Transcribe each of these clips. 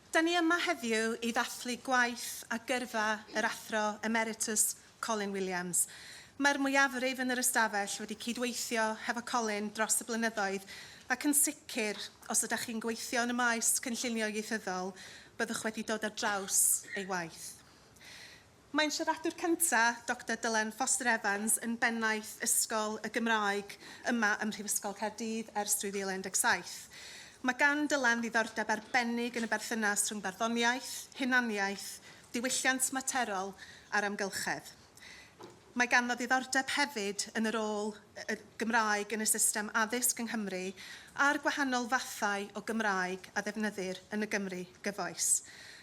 Da ni yma heddiw i ddathlu gwaith a gyrfa yr Athro Emeritus Colin Williams. Mae'r mwyafrif yn yr ystafell wedi cydweithio hefo Colin dros y blynyddoedd ac yn sicr, os ydych chi'n gweithio yn y maes cynllunio ieithyddol, byddwch wedi dod ar draws ei waith. Mae'n siaradwr cyntaf Doctor Dylan Foster Evans yn Bennaeth Ysgol y Gymraeg yma ym Mhrifysgol Caerdydd ers 2017. Mae gan Dylan ddiddordeb arbennig yn y berthynas rhwng barddoniaeth, hunaniaeth, diwylliant materol a'r amgylchedd. Mae ganddo ddiddordeb hefyd yn y rôl y Gymraeg yn y system addysg yng Nghymru a'r gwahanol fathau o Gymraeg a ddefnyddir yn y Gymru gyfoes.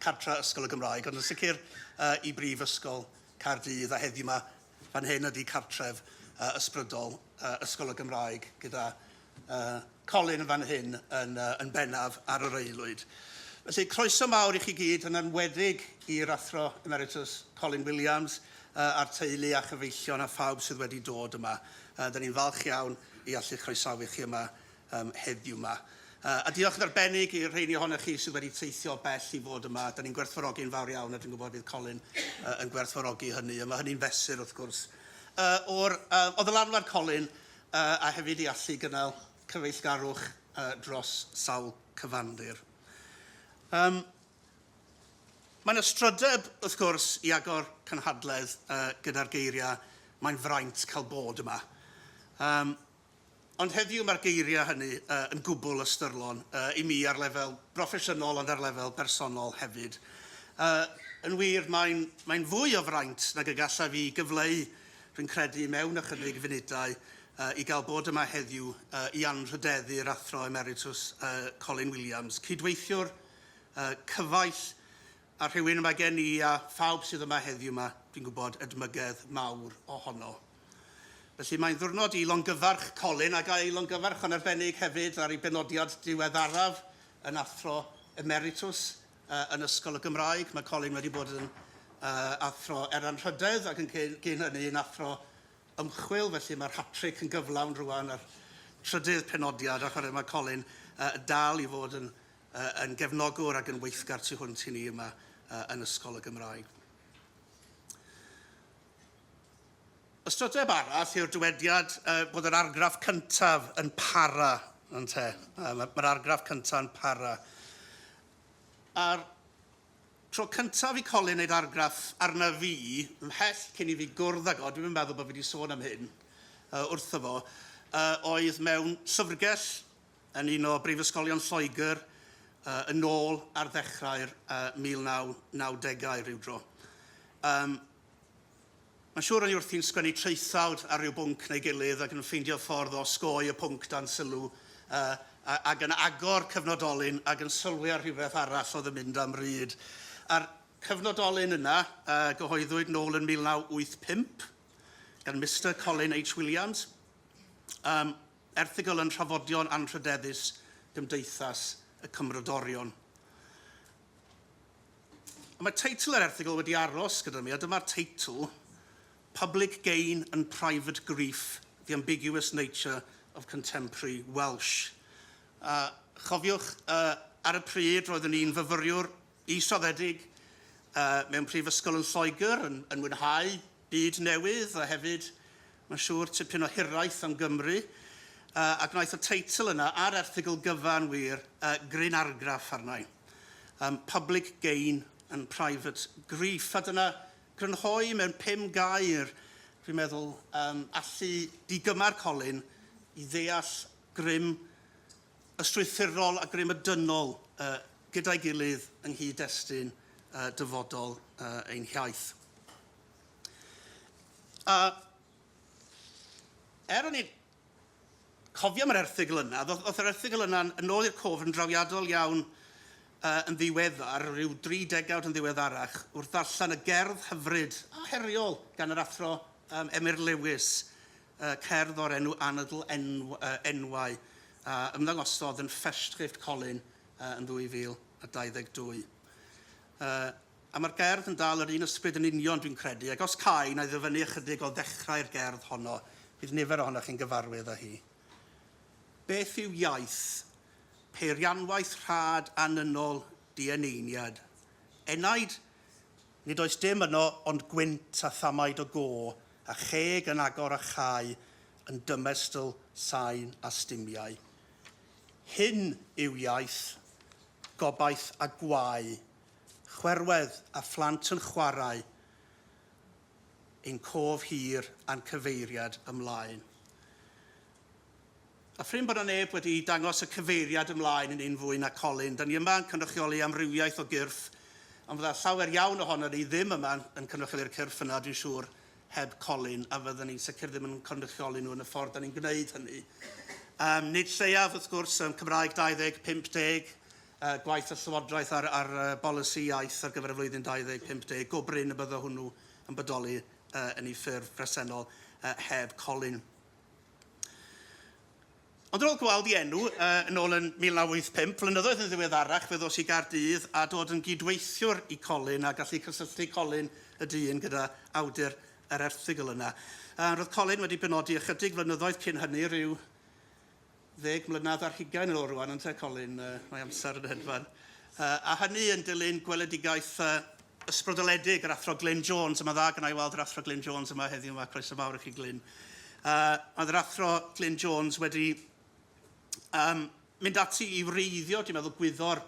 cartre Ysgol y Gymraeg, ond yn sicr i Brifysgol Caerdydd, a heddiw 'ma, fan hyn ydi cartref ysbrydol Ysgol y Gymraeg, gyda Colin yn fan hyn yn, yn bennaf ar yr aelwyd. Felly, croeso mawr i chi gyd, yn enwedig i'r Athro Emeritus Colin Williams, a'r teulu a chyfeillion a phawb sydd wedi dod yma. Da ni'n falch iawn i allu croesawu chi yma um, heddiw yma. Uh, a diolch yn arbennig i'r rheini ohonych chi sydd wedi teithio bell i fod yma. Da ni'n gwerthfawrogi yn fawr iawn a dwi'n gwybod bydd Colin uh, yn gwerthfawrogi hynny. A mae hynny'n fesur wrth gwrs. Uh, o'r, uh, o ddylanwad Colin uh, a hefyd i allu gynnal cyfeillgarwch uh, dros sawl cyfandir. Um, Mae'n ystrydeb, wrth gwrs, i agor cynhadledd uh, gyda'r geiriau mae'n fraint cael bod yma. Um, Ond heddiw mae'r geiriau hynny yn gwbl ystyrlon i mi ar lefel broffesiynol ond ar lefel bersonol hefyd. Yn wir, mae'n fwy o fraint nag y gallaf i gyfleu, rwy'n credu, mewn ychydig funudau, i gael bod yma heddiw i anrhydeddu'r Athro Emeritws Colin Williams, cydweithiwr cyfaill, A rhywun mae gen i a phawb sydd yma heddiw 'ma, dwi'n gwybod, edmygedd mawr ohono. Felly mae'n ddiwrnod i longyfarch Colin ac a'i longyfarch yn arbennig hefyd ar ei benodiad diweddaraf yn Athro Emeritws yn Ysgol y Gymraeg. Mae Colin wedi bod yn Athro er Anrhydedd ac yn gyn hynny yn Athro Ymchwil, felly mae'r hatric yn gyflawn rwan a'r trydydd penodiad a chwarae mae Colin dal i fod yn uh, yn gefnogwr ac yn weithgar tu hwnt i ni yma uh, yn Ysgol y Gymraeg. Ystrydeb arall yw'r dywediad uh, bod yr argraff cyntaf yn para, yn te. Uh, Mae'r argraff cyntaf yn para. A'r tro cyntaf i Colin wneud argraff arna fi, ymhell cyn i fi gwrdd ag o, dwi'n yn meddwl bod fi wedi sôn am hyn uh, wrtho fo, uh, oedd mewn llyfrgell yn un o brifysgolion Lloegr yn ôl ar ddechrau'r 1990au rywdro. Yym, mae'n siŵr o'n i wrthi'n sgwennu traethawd ar ryw bwnc neu gilydd ac yn ffeindio ffordd o osgoi y pwnc dan sylw uh, ac yn agor cyfnodolyn ac yn sylwi ar rhywbeth arall oedd yn mynd am ryd. A'r cyfnodolyn yna uh, gyhoeddwyd nôl yn 1985 gan Mister Colin H Williams. Um, Erthygl yn Trafodion Anrhydeddus Gymdeithas y Cymrodorion. Mae teitl yr erthygl wedi aros gyda mi, a dyma'r teitl, Public Gain and Private Grief, The Ambiguous Nature of Contemporary Welsh. A chofiwch, uh, ar y pryd roeddwn i'n fyfyriwr Israddedig mewn prifysgol yn Lloegr yn yn mwynhau byd newydd a hefyd mae'n siŵr tipyn o hiraeth am Gymru yy a gwnaeth y teitl yna a'r erthygl gyfan wir yy gryn argraff arna i. Yym public gain and private grief a dyna grynhoi mewn pum gair dwi'n meddwl yym allu digymar Colin i ddeall grym y strwythurol a grym y dynol yy gyda'i gilydd yng nghyd-destun yy dyfodol yy ein hiaith. A er o'n i'n cofio am yr erthygl yna, ddoth yr erthygl yna yn ôl i'r cof yn drawiadol iawn uh, yn ddiweddar, rhyw dri degawd yn ddiweddarach, wrth ddarllen y gerdd hyfryd a heriol gan yr athro um, Emyr Lewis, cerdd o'r enw Anadl Enwau a ymddangosodd yn Festschrift Colin yn 2022. A mae'r gerdd yn dal yr un ysbryd yn union dwi'n credu, ac os cae na i ddyfynnu ychydig o ddechrau'r gerdd honno, bydd nifer ohonoch chi'n gyfarwydd â hi. Beth yw iaith? Peirianwaith rhad anynol dieneiniad. Enaid Nid oes dim yno ond gwynt a thamaid o go a cheg yn agor a chau yn dymestl sain a stumiau. Hyn yw iaith, gobaith a gwae, chwerwedd a phlant yn chwarae ein cof hir a'n cyfeiriad ymlaen. A phrin bod 'na neb wedi dangos y cyfeiriad ymlaen yn un fwy na Colin. Dan ni yma yn cynrychioli amrywiaeth o gyrff, ond fydda llawer iawn ohonon ni ddim yma yn cynrychioli'r cyrff yna, dwi'n siŵr, heb Colin, a fyddan ni'n sicr ddim yn cynrychioli nhw yn y ffordd dan ni'n gwneud hynny. Yym, nid lleiaf, wrth gwrs, ym Cymraeg 20, 50, yy, gwaith y Llywodraeth ar, ar uh, bolisi iaith ar gyfer y flwyddyn 20, 50, go brin y byddo hwnnw yn bodoli uh, yn ei ffurf presennol uh, heb Colin. Ond ar ôl gweld i enw uh, yn ôl yn 1985, flynyddoedd yn ddiweddarach fe ddos i Gaerdydd a dod yn gydweithiwr i Colin a gallu cysylltu Colin y dyn gyda awdur yr erthygl yna. Uh, roedd Colin wedi penodi ychydig flynyddoedd cyn hynny rhyw ddeg mlynedd ar hugain yn ôl rwan ynte Colin, yy mae amser yn hedfan. Yy a hynny yn dilyn gweledigaeth yy ysbrydoledig yr Athro Glyn Jones a ma'n dda gynna i weld yr Athro Glyn Jones yma heddiw yma, croeso mawr i chi Glyn. Yy oedd yr Athro Glyn Jones wedi um, mynd ati i wreiddio, dwi'n meddwl, gwyddor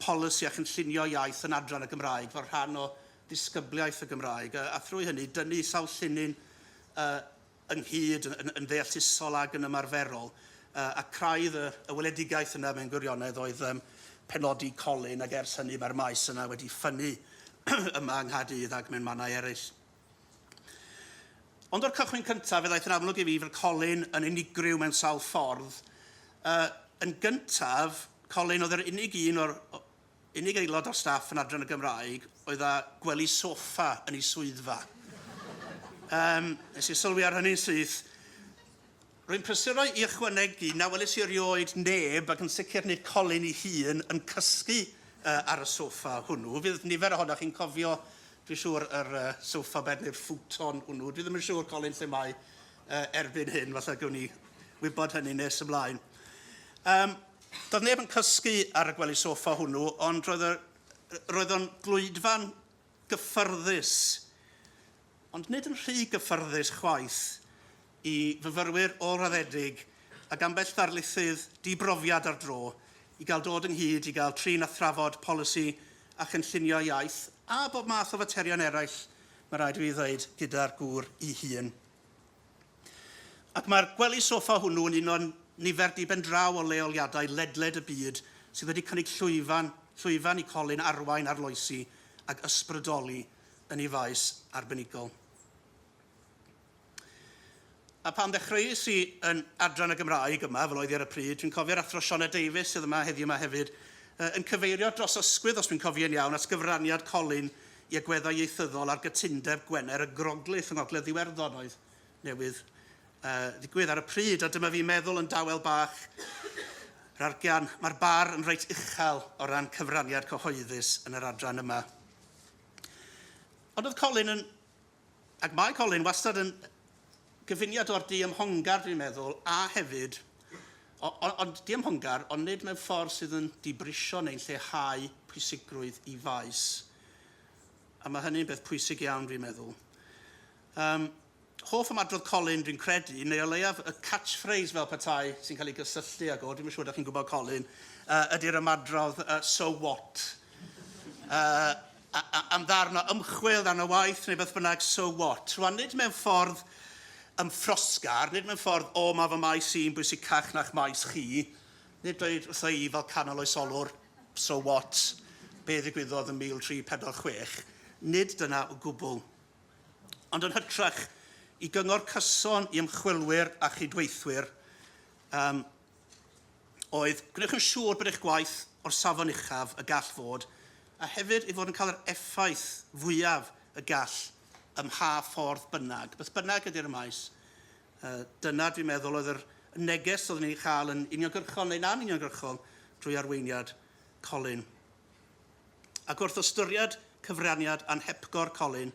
polisi a chynllunio iaith yn adran y Gymraeg fel rhan o ddisgybliaeth y Gymraeg, a, a thrwy hynny dynnu sawl llinyn uh, ynghyd yn, yn, yn ddeallusol ag yn ymarferol, uh, a craidd y, y weledigaeth yna mewn gwirionedd oedd um, penodi Colin, ac ers hynny mae'r maes yna wedi ffynnu yma yng Nghaerdydd ac mewn mannau eraill. Ond o'r cychwyn cyntaf, fe ddaeth yn amlwg i fi fel Colin yn unigryw mewn sawl ffordd. Uh, yn gyntaf, Colin oedd yr unig un o'r, Unig aelod o'r staff yn adran y Gymraeg oedd â gwely soffa yn ei swyddfa. Yym, nes i sylwi ar hynny'n syth. Rwy'n prysuro i ychwanegu na welis i erioed neb, ac yn sicr nid Colin ei hun, yn cysgu ar y soffa hwnnw. Fydd nifer ohonoch chi'n cofio, dwi'n siŵr, yr sofa bed neu'r futon hwnnw. Dwi ddim yn siŵr, Colin, lle mae erbyn hyn. Falle gewn ni wybod hynny nes ymlaen. Yym. Doedd neb yn cysgu ar y gwely soffa hwnnw, ond roedd y... roedd o'n glwydfa'n gyffyrddus, ond nid yn rhy gyffyrddus chwaith, i fyfyrwyr ôl-raddedig ag ambell ddarlithydd di-brofiad ar dro i gael dod ynghyd i gael trin a thrafod polisi a chynllunio iaith a bob math o faterion eraill, mae rhaid i fi ddweud, gyda'r gŵr 'i hun. Ac mae'r gwely soffa hwnnw yn uno'n nifer diben draw o leoliadau ledled y byd sydd wedi cynnig llwyfan, llwyfan i Colin arwain arloesi ac ysbrydoli yn ei faes arbenigol. A pan ddechreuais i yn adran y Gymraeg yma, fel oedd i ar y pryd, dwi'n cofio'r athro Siona Davies, sydd yma heddiw yma hefyd, yn cyfeirio dros ysgwydd, os dwi'n cofio'n iawn, at gyfraniad Colin i agweddau ieithyddol ar gytundeb Gwener y Groglith yng Ngogledd Iwerddon oedd newydd uh, ddigwydd ar y pryd, a dyma fi meddwl yn dawel bach yr argian, mae'r bar yn reit uchel o ran cyfraniad cyhoeddus yn yr adran yma. Ond oedd Colin yn Ac mae Colin wastad yn gyfuniad o'r diymhongar dwi'n meddwl, a hefyd, o, o, ond diymhongar, ond nid mewn ffordd sydd yn dibrisio neu'n lleihau pwysigrwydd i faes. A mae hynny'n beth pwysig iawn dwi'n meddwl. Um, hoff am adrodd Colin, dwi'n credu, neu o leiaf y catchphrase fel petai sy'n cael ei gysylltu ag o, dwi'n siŵr da chi'n gwybod Colin, uh, ydy'r ymadrodd uh, so what? Uh, a, a, am ddarn o ymchwil, ddarn o waith, neu beth bynnag, so what? Rwan, nid mewn ffordd ymffrosgar, nid mewn ffordd, o, mae fy maes i'n bwysicach na'ch maes chi, nid dweud wrtha i fel canol oesolwr, so what, be ddigwyddodd yn 1346, nid dyna o gwbl. Ond yn hytrach, i gyngor cyson i ymchwilwyr a chydweithwyr, um, oedd, gwnewch yn siŵr bod eich gwaith o'r safon uchaf y gall fod, a hefyd ei fod yn cael yr effaith fwyaf y gall ym mha ffordd bynnag. Beth bynnag ydy'r y maes, yy, dyna, dwi'n meddwl, oedd yr y neges oeddwn i'n ei chael yn uniongyrchol neu'n anuniongyrchol drwy arweiniad Colin. Ac wrth ystyried cyfraniad anhepgor Colin,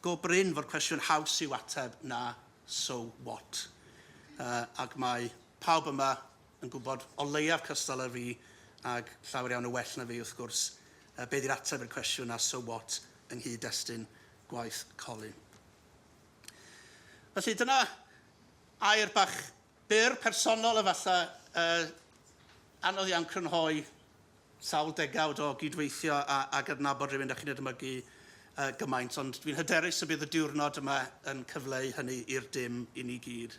go brin fod cwestiwn haws i'w ateb na so what. Yy, ac mae Pawb yma yn gwybod o leiaf cystal â fi, ac llawer iawn yn well na fi, wrth gwrs, beth ydy'r ateb i'r cwestiwn a so what yng nghyd-destun gwaith Colin. Felly, dyna air bach byr, personol efallai, yy, anodd iawn crynhoi Sawl degawd o gyd-weithio a a gydnabod rhywun dach chi'n edmygu yy gymaint, ond dwi'n hyderus y bydd y diwrnod yma yn cyfleu hynny i'r dim i ni gyd.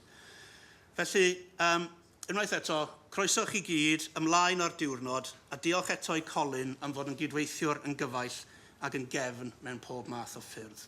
Felly, yym, unwaith eto, croeso chi gyd, ymlaen â'r diwrnod, a diolch eto i Colin am fod yn gyd-weithiwr yn gyfaill ac yn gefn mewn pob math o ffyrdd.